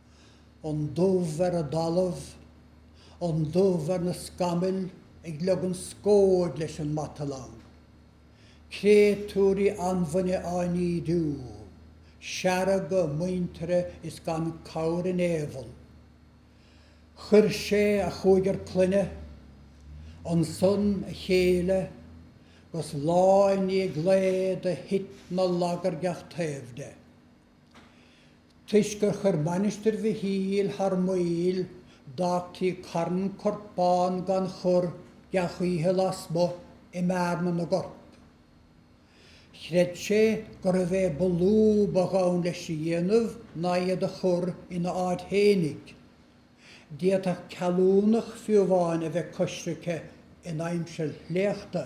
an dubh ar an dtalamh, an dubh ar na scamaill ag leogan scóid leis an matalang, créatúirí anbhainne á n-ídiú, seargadh a muintire is gan cabhair in aon bhall. Chuir sé a chúigear clainne, ansan a chéile, gus lá i ndiaidh lae do thit na laga ar gach taobh de. Toisc gur chuir Mainistir Mhichíl thar maoil, d'fhágtaí carn corpán gan chur gach oíche lasmuigh i mbearna na gcorp. Chreid sé gurbh é ba lú ba ghann leis a dhéanamh ná iad a chur ina áit fhéinig. D'fhéadfadh ceallúnach fiú amháin a bheith coisricthe in aimsir shléachta.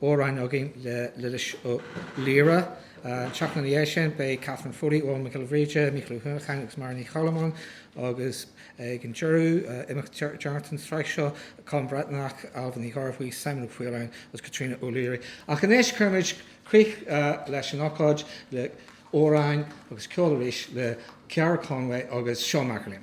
amhráin againn le Lillis Ó Laoire. An tseachtain ina dhiaidh sin beidh Catherine Foley, Eoghan Mac Giolla Bhríde, Mícheál Ó hUanacháin agus Máire Ní Choilm ann agus ag an deireadh, imeacht deireanach an tsraith seo, Colm Breathnach, Ailbhe Ní Ghearbhuigh, Simon Ó Faoláin agus Caitríona O'Leary. Ach anois cuirimid críoch leis an ócáid le amhráin agus ceol arís le Ceara Conway agus Seán MacErlaine.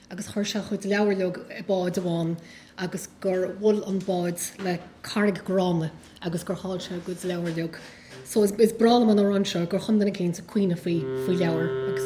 agus chuir sé a chuid leabhar uilig i bád amháin agus gur bhual an bád le carraig gránna agus gur chaill sé a chuid leabhar uilig so is breá liom an amhrán seo gur chum duine éicint ag caoineadh faoi faoi leabhar agus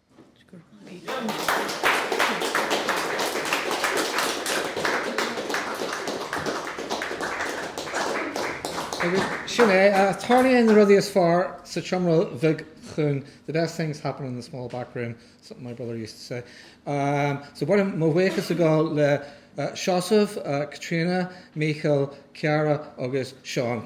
Agus sin é, tarlaíonn na rudaí is fearr sa tseomra bheag chúng, the best things happen in the small back room, something my brother used to say. So gabhaim mo bhuíochas go le. Seosamh, Caitríona, Mícheal, Ciara agus Seán.